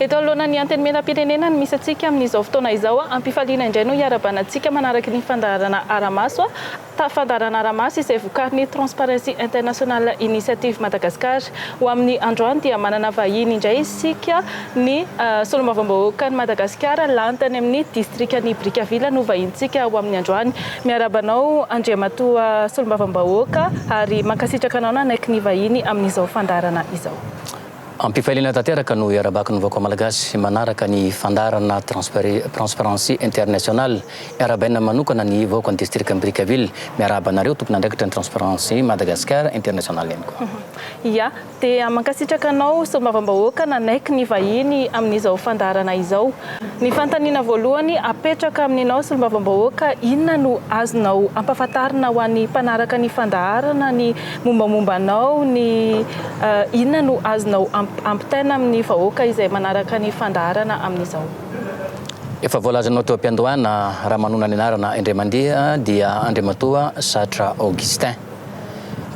Eto anoloana ny Antenimierampirenena no misy antsika amin'izao fotoana izao. Am-pifaliana indray no hiarabanantsika manaraka ny fandaharana Aramaso. Tafandarana ara-maso izay vokarin'ny Transparency International Initiative Madagascar. Ho amin'ny androany dia manana vahiny indray isika, ny Solombavambahoakan'i Madagasikara lany tany amin'ny Distrikan'i Brickaville no vahintsika ho amin'ny androany. Miarahaba anao Andriamatoa Solombavambahoaka ary mankasitraka anao nanaiky ny vahiny amin'izao fandaharana izao. Am-pifaliana tanteraka no iarahabako ny vahoaka Malagasy manaraka ny fandaharana Transparency International. Iarahabaina manokana ny vahoakan'ny distrikan'i Brickaville. Miarahaba anareo tompon'andraikitra ny Transparency Madagascar International ihany koa. Ia, dia mankasitraka anao Solombavambahoaka nanaiky ny vahiny amin'izao fandaharana izao. Ny fanontaniana voalohany apetraka amin'inao Solombavambahoaka, inona no azonao ampahafantarina ho an'ny mpanaraka ny fandaharana ny Mombamomba anao ny inona no azonao ampitaina amin'ny vahoaka izay manaraka ny fandaharana amin'izao? Efa voalazanao teo am-piandohana raha manonona ny anarana indray mandeha dia Andriamatoa Satra Augustin.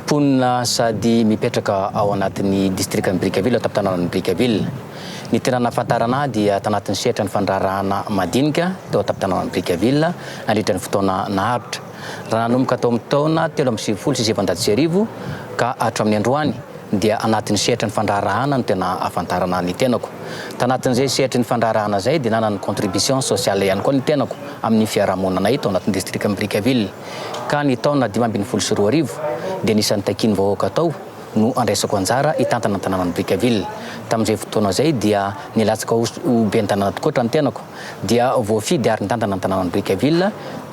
Mponina sady mipetraka ao anatin'ny distrikan'i Brickaville ato am-tanànan'i Brickaville. Ny tena nahafantarana ahy dia tanatin'ny sehatran'ny fandraharahana madinika teo an-tampon-tanànan'i Brickaville nandritra ny fotoana naharitra. Raha nanomboka tao amin'ny taona telo amby sivifolo sy sivinjato sy arivo ka hatramin'ny androany dia anatin'ny sehatry ny fandraharahana no tena ahafantarana ny tenako. Tanatin'izay sehatry ny fandraharahana izay dia nanana contribution sociale ihany koa ny tenako amin'ny fiarahamonanay tao anatin'ny distrikan'i Brickaville ka ny taona dimy ambin'ny folo sy roa arivo dia anisan'ny takian'ny vahoaka tao no andraisako anjara hitantana ny tanànan'i Brickaville. Tamin'izay fotoana izay dia nilatsaka ho ben'ny tanàna tokoa hatrany tenako dia voafidy ary nitantana ny tanànan'i Brickaville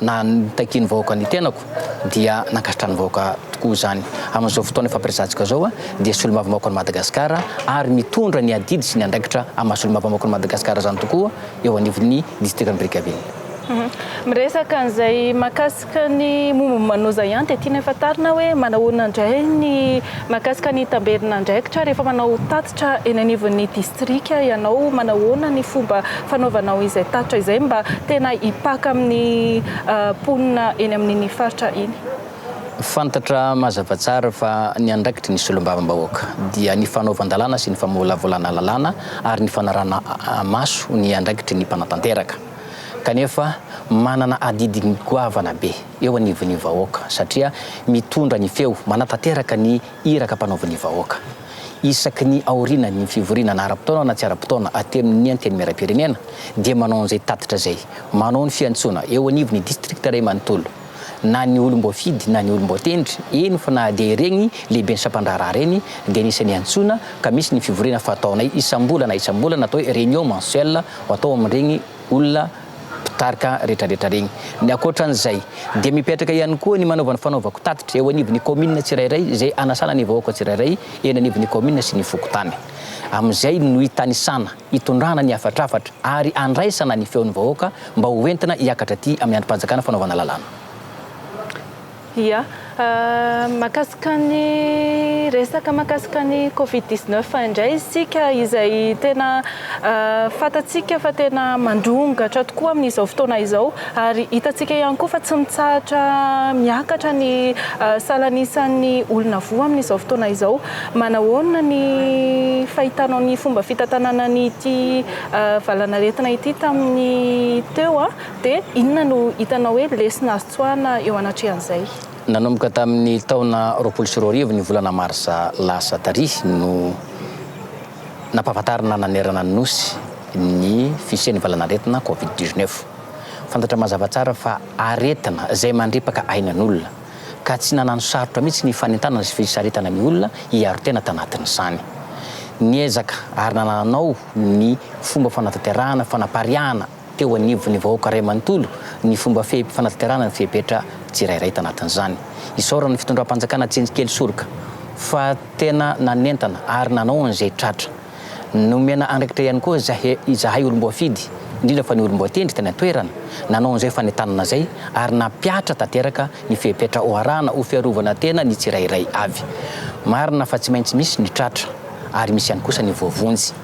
Na nitakian'ny vahoaka ny tenako dia nankasitran'ny vahoaka tokoa izany. Amin'izao fotoana efa prezantsika izao dia solombavambahoakan'i Madagasikara ary mitondra ny adidy sy ny andraikitra amin'ny maha solombavambahoakan'i Madagasikara izany tokoa eo anivon'ny distrikan'i Brickaville. Miresaka an'izay mahakasika ny momban'ny Manoza ihany dia tianay fantarina hoe manahoana indray ny mahakasika ny tamberin'andraikitra rehefa manao tatitra Tra eny anivon'ny distrika ianao, manahoana ny fomba fanaovanao izay tatitra izay mba tena hipaka amin'ny mponina eny amin'iny faritra iny? Fantatra mazava tsara fa ny andraikitry ny solombavambahoaka dia ny fanaovan-dalàna sy ny famolavolana lalàna ary ny fanarahana maso ny andraikitry ny mpanatanteraka. Kanefa manana adidy goavana be eo anivon'ny vahoaka satria mitondra ny feo, manatanteraka ny Iraka ampanaovin'ny vahoaka. Isaky ny aorianan'ny fivoriana na ara-potoana na tsy ara-potoana atenin'ny Antenimierampirenena dia manao an'izay tatitra izay. Manao ny fiantsoana eo anivon'ny distrikta iray manontolo. Na ny olom-boafidy na ny olom-boatendry, eny fa na dia ireny lehiben'ny sampandraharaha ireny dia anisan'ny antsoina ka misy ny fivoriana fataonay isam-bolana isam-bolana atao hoe réunion mensuelle atao amin'ireny olona mpitarika rehetrarehetra regny. Ny ankoatran'izay dia mipetraka ihany koa ny manaovany fanaovako tatitra eo anivon'ny kaominina tsirairay izay hanasana ny vahoaka tsirairay eny anivon'ny kaominina sy ny fokontany. Amin'izay no hitanisana, hitondrana ny hafatrafatra ary handraisana ny feon'ny vahoaka mba ho entina hiakatra aty amin'ny andrim-panjakana fanaovana lalàna. Ia, mahakasika ny resaka mahakasika ny covid dix neuf indray isika izay tena fantatsika fa tena mandrongatra tokoa amin'izao fotoana izao ary hitantsika ihany koa fa tsy mitsahatra miakatra ny salan'isan'ny olona voa amin'izao fotoana izao. Manahoana ny fahitanao ny fomba fitantanana an'ity valanaretina ity tamin'ny teo dia inona no hitanao hoe lesona azo Tsoahina eo anatrehan'izay. Nanomboka tamin'ny taona roapolo sy roa arivo ny volana marsa lasa tarihy no nampahafantarina nanerana ny Nosy ny fisian'ny valan'aretina covid dix-neuf. Fantatra mazava tsara fa aretina izay mandripaka ainan'olona ka tsy nanano sarotra mihitsy ny fanentanana sy fisaritana ny olona hiaro tena tanatin'izany. Niezaka ary nananao ny fomba fanatanterahana fanapariahana teo anivon'ny vahoaka iray manontolo ny fomba fanatanterahana ny fepetra tsirairay tanatin'izany. Isaoran'ny fitondram-panjakana tsindrikely soroka fa tena nanentana ary nanao an'izay tratra. Nomena andraikitra ihany koa izahay olom-boafidy, indrindra fa ny olom-boatendry tany an-toerana, nanao an'izay fanentanana izay ary nampihatra tanteraka ny fepetra hoarahana ho fiarovana tena ny tsirairay avy. Marina fa tsy maintsy misy ny tratra ary misy ihany kosa ny voavonjy.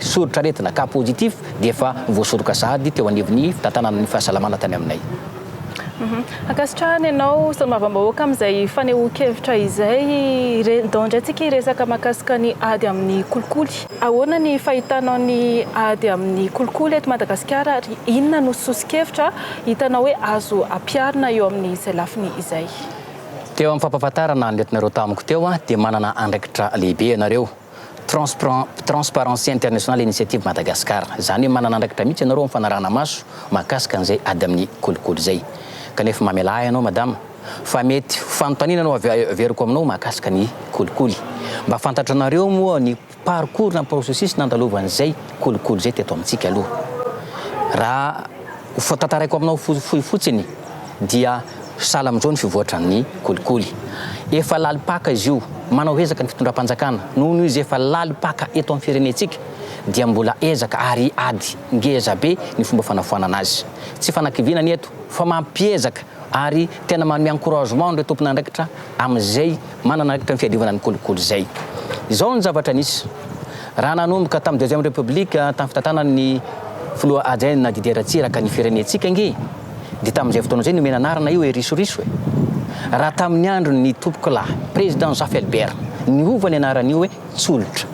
Soritr'aretina, cas positif, dia efa voasoroka sahady teo anivon'ny fitantanana ny fahasalamana tany aminay. Ankasitrahana ianao solombavambahoaka amin'izay fanehoan-kevitra izay. Dao indray tsika hiresaka mahakasika ny ady amin'ny kolikoly. Ahoana ny fahitanao ny ady amin'ny kolikoly eto Madagasikara ary inona no soso-kevitra hitanao hoe azo ampiharina eo amin'izay lafiny izay? Teo amin'ny fampahafantarana ny aretina ireo tamiko teo dia manana andraikitra lehibe ianareo. Transparency International Initiative Madagascar, izany hoe manana andraikitra mihitsy ianareo amin'ny fanarahana maso mahakasika an'izay ady amin'ny kolikoly izay. Kanefa mamelà ahy ianao Madama fa mety ho fanontaniana no averiko aminao mahakasika ny kolikoly. Mba fantatranareo moa ny parcours na processus nandalovan'izay kolikoly izay teto amintsika aloha? Raha ho tantaraiko aminao fohy fotsiny, dia sahala amin'izao ny fivoatran'ny kolikoly. Efa lalim-paka izy io, manao ezaka ny fitondram-panjakana, noho noho izy efa lalim-paka eto amin'ny firenentsika dia mbola ezaka ary ady ngeza be ny fomba fanafoanana azy. Tsy fanakiviana ny eto fa mampiezaka ary tena manome encouragement an'ireo tompon'andraikitra amin'izay manana andraikitra ny fiadiovana ny kolikoly izay. Izao ny zavatra nisy, raha nanomboka tamin'ny deuxième république tamin'ny fitantanan'ny filoha adjoint-na Didier Ratsiraka ny firenentsika ange, dia tamin'izay fotoana izay nomena anarana io hoe risoriso e! raha tamin'ny andron'ny ntompokolahy Président Zaffelbert niova ny anaran'io hoe Tsolotra.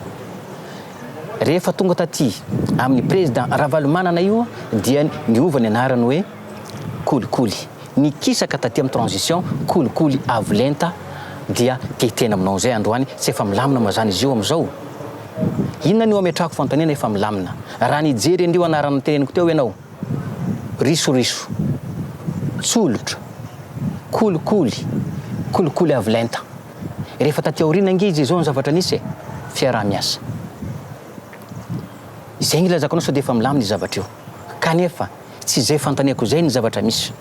Rehefa tonga taty amin'ny Président Ravalomanana io dia niova ny anarany hoe Kolikoly. Nikisaka taty amin'ny transition kolikoly avo lenta dia tetehina aminao izay androany tsy efa milamina mazana izy io amin'izao? Inona no ametrahako fanontaniana efa milamina raha nijery an'io anarana noteneniko teo ianao? risoriso, tsolotra, kolikoly, kolikoly avo lenta. Rehefa taty aoriana ange izy izao ny zavatra nisy e! Fiaraha-miasa. Izay ny ilazako anao sao dia efa milamina io zavatra io. Kanefa tsy izay fanontaniako izay ny zavatra misy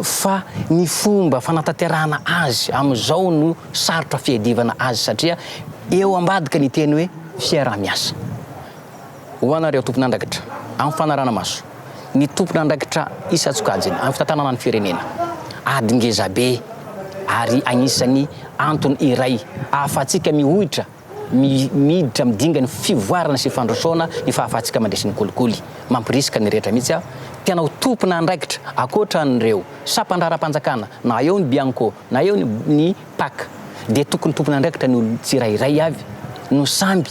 fa ny fomba fanatanterahana azy amin'izao no sarotra fiadivana azy satria eo ambadika ny teny hoe fiaraha-miasa. Ho anareo tompon'andraikitra amin'ny fanarana-maso ny tompon'andraikitra isan-tsokajiny amin'ny fitantanana ny firenena, ady ngezabe ary anisan'ny antony iray ahafahantsika mihoitra miditra amin'ny dingany fivoarana sy fandrosoana ny fahafahantsika mandresy ny kolikoly. Mampirisika ny rehetra mihitsy aho tena ho tompon'andraikitra ankoatra an'ireo sampandraharam-panjakana na eo ny Bianco na eo ny pac dia tokony tompon'andraikitra ny olona tsirairay avy no samby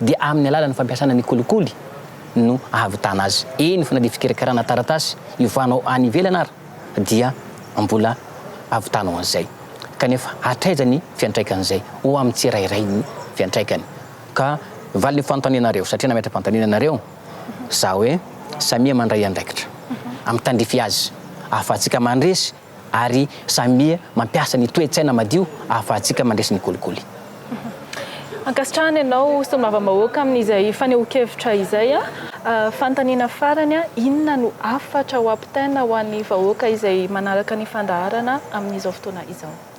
dia amin'ny alalan'ny fampiasana ny kolikoly no ahavitana azy. Eny fa na dia fikarakarana taratasy hiovanao any ivelany ara dia mbola avitanao an'izay. Kanefa hatraiza ny fiantraikan'izay ho amin'ny tsirairay ny fiantraikany? Ka valin'io fanontanianareo, satria nametra-panontaniana nareo za hoe samia mandray andraikitra amin'ny tandrify azy ahafahantsika mandresy ary samia mampiasa ny toe-tsaina madio ahafahantsika mandresy ny kolikoly. Ankasitrahana ianao Solombavambahoaka amin'izay fanehoan-kevitra izay. Fanontaniana farany, inona no hafatra ho ampitaina ho an'ny vahoaka izay manaraka ny fandaharana amin'izao fotoana izao?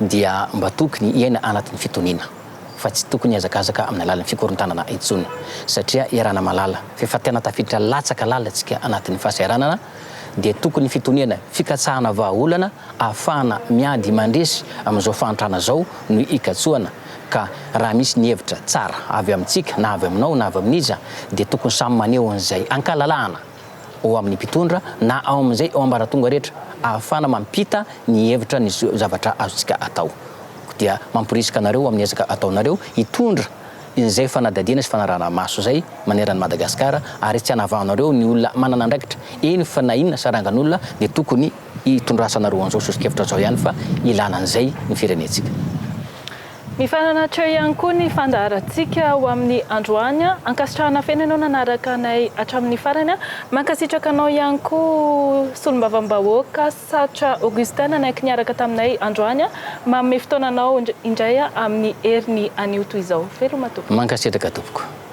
dia mba tokony hiaina anaty ny fitoniana fa tsy tokony hiazakazaka amin'ny alalan'ny fikorontanana intsony satria iarahana malala fa efa tena tafiditra latsaka lalina tsika anatin'ny fahasahiranana dia tokony fitoniana fikatsahana vahaolana ahafahana miady mandresy amin'izao fahantrana izao no ikatsoana ka raha misy ny hevitra tsara avy amintsika na avy aminao na avy amin'iza dia tokony samy maneho an'izay ankalalahana ao amin'ny mpitondra na ao amin'izay ao ambaratonga rehetra ahafahana mampita ny hevitra ny zavatra azontsika atao dia mamporisika anareo amin'ny ezaka ataonareo hitondra izay fanadihadiana sy fanarahana maso izay maneran'i Madagasikara ary tsy anavahanareo ny olona manana andraikitra eny fa na inona sarangan'olona dia tokony hitondrasanareo an'izao soso-kevitra izao ihany fa ilana an'izay ny firenentsika. Mifananatra eo ihany koa ny fandaharantsika ho amin'ny androany. Ankasitrahana feno ianao nanaraka anay hatramin'ny farany. Mankasitraka anao ihany koa Solombavambahoaka Satra Augustin nanaiky niaraka taminay androany. Manome fotoananao indray amin'ny heriny anio toy izao. Veloma tompoko. Mankasitraka tompoko.